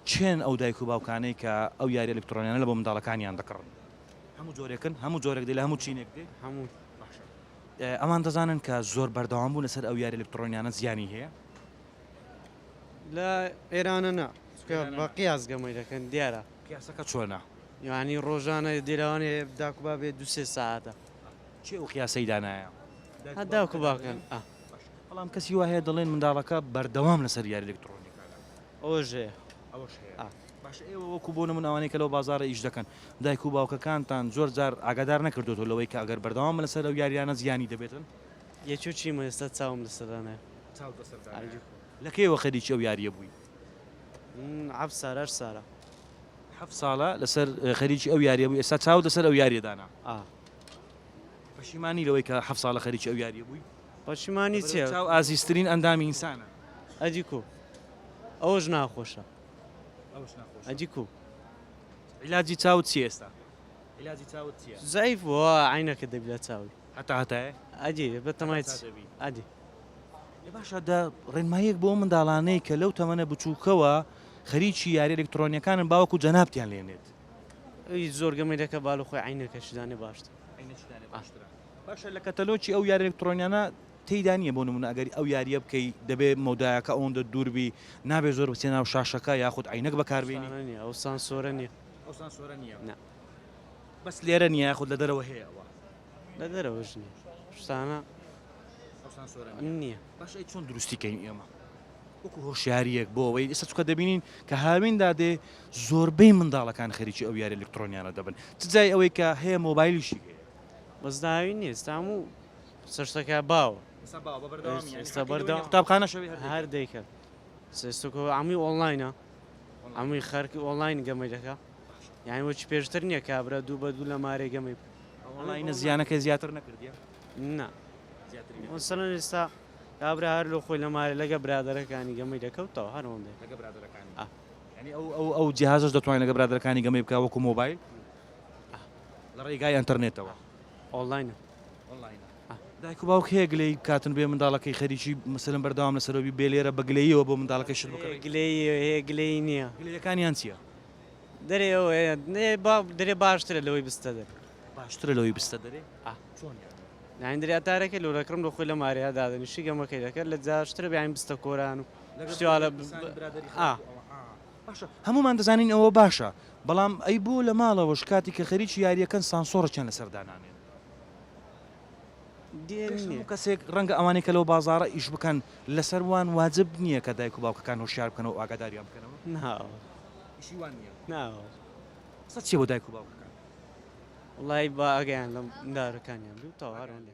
کێن ئەو دایک و باوکانەی کە ئەو یاریە ئەلکترۆنیانە لە بۆ منداڵەکانیان دەکڕن؟ هەموو جۆرێکن هەموو جۆرێک دێ لە هەموو چینێک دێ هەموو باشە. ئەوان دەزانن کە زۆر بەردەوام بوون لەسەر ئەو یاریە ئەلکترۆنیانە زیانی هەیە؟ لە ئێرانە نا چونکە بە قیاس گەمەی دەکەن دیارە. قیاسەکە چۆنە؟ یانی ڕۆژانە دێ لەوانەیە داک و بابێ دوو سێ سەعاتە. کێ ئەو قیاسەی دانایە؟ هەر داک و باوکن. بەڵام کەسی وایە دەڵێن منداڵەکە بەردەوام لەسەر یاری لەکتڕۆنیەکانە ئەوەش هەیە ئەوەش هەیە باش ئێوە وەکو بۆ نمون ئەوانەی کە لەو بازارە ئیش دەکەن دایک و باوکەکانتان زۆر جار ئاگادار نەکردوەوە لەوەی کە ئەگەر بەردەوام لەسەر ئەو یاریانە زیانی دەبێتن یەکێ چی مە ئێستا چاوم لەسەدانێ لە کێوە خەریکی ئەو یاریە بووی عەب سارەر سارە حەف ساڵە لەسەر خەریکی ئەو یاریە بوو ئێستا چاو لەسەر ئەو یاریەدانە ئا پەشیمانی لەوەی کە حەفت ساڵە خەریکی ئەو یاریە بووی؟ پەشیمانی چیە؟ لەبەر چاو ئازیزترین ئەندامی ئینسانە. ئەدی کو ئەوەش ناخۆشە. ئەوەش ناخۆشە. ئەدی کو. عیلاجی چاوت چیە ئێستا؟ عیلاجی چاوت چیە؟ زەعیف بووە وا عەینەکە دەبی لە چاوی. هەتا هەتایە؟ ئەدی بە تەمای چ؟ هەتا هەتا دەبی. ئەدی. ئێ باشە دە ڕێنماییەک بۆ ئەو منداڵانەی کە لەو تەمەنە بچووکەوە خەریکی یاریە ئەلکتڕۆنیەکانن باوەکو جەنابتیان لێنێت. ئەوی زۆر گەمەی دەکا با لە خۆی عەینەکەشی دانێ باشترە. باشە لە کەتەلۆکی ئەو یارە ئەلکترۆنیانە تێیدا نییە بۆ نمونە ئەگەری ئەو یاریە بکەی دەبێ مەودایەکە ئەوەندە دووربی نابێ زۆر بچێ ناو شاشەکە یاخود عینەک بەکاربیێنی نیە ئەو سانسۆرە نیە ئەو سانسۆرە نیە بەس لێرە نیە یاخود لە دەرەوە هەیە ئەوە لە دەرەوەش نیە شتانە نیە بەشی چۆن دروستیکەین ئێمە وەکو هۆشیارییەک بۆ ئەوەی ئێستا چونکە دەبینین کە هاوین دادێ زۆربەی منداڵەکان خەریکی ئەو یاریە ئەلکترۆنیانە دەبن چ جای ئەوەی کە هەیە مۆبایلیشی هەیە بەس داوی نییە ئێستا هەموو قسە شتەکە باوە ئێستا باوە بە بەردەوامی یانی ئێستا حەقی لەوە نییە بەردەوام. قوتابخانەش هەبێ هەر دەیکات. هەر دەیکەن سێستۆکۆ هەمووی ئۆنلاینە هەمووی خەرکی ئۆنلاین گەمەی دەکا یانی وەکی پێشتر نییە کابرا دوو بە دوو لە مارێ گەمەی ئەوەڵینە زیانەکە زیاتر نەکردیە نا زیاترینە. وەسەرەن ئێستا کابرا هەر لۆ خۆی لە مالێ لەگە برادەرەکانی گەمەی دەکەوتەوە هەر ئەوەندەی. لەگە برادەرەکانی ئا. یانی ئەو ئەو ئەو جیهازەش دەتوانێ لەگە برادەرەکانی گەمەی بکا وەکو مۆبایل؟ ئا. لە ڕێگای ئەنتەرنێتەوە. ئۆنڵاینە. ئۆنڵاینە. ئا. دایک و باوک هەیە گلەیی بکاتن بێ منداڵەکەی خەریکی مەسەلەن بەردەوام لەسەرەوە بی بێ لێرە بە گلەییەوە بۆ منداڵەکەی شت بکڕی؟ هەیە گلەیی هەیە گلەیی نییە. گلەییەکانیان چییە؟ دەرێ ئەوەیە نێ با درێ باشترە لەوەی بستە دەر. باشترە لەوەی بستە دەرێ ئا چۆن یانی. یانی دەریا تارەکەی لۆ دەکڕم لۆ خۆی لە ماریا دادەنی شی گەمەکەی دەکەر لە جاشترە بیانی بستە کۆران و شتی وا لە ئا. باشە هەموومان دەزانین ئەوە باشە بەڵام ئەی بۆ لە ماڵەوەش کاتی کە خەریکی یاریەکەن سانسۆڕەکیان لەسەر دانانێن. دێنێ. کەسێک ڕەنگە ئەوانەی کە لەو بازاڕە ئیش بکەن لەسەر وان واجب نییە کە دایک و باوکەکان هۆشیار بکەنەوە ئاگاداریان بکەنەوە. ناوە. ئیشی وان نییە. ناوە. قسەت چیە بۆ دایک و باوکەکانت. وەڵایی با ئاگایان لەم دارەکانیان بێ و تەواو هەر ئەوەندە.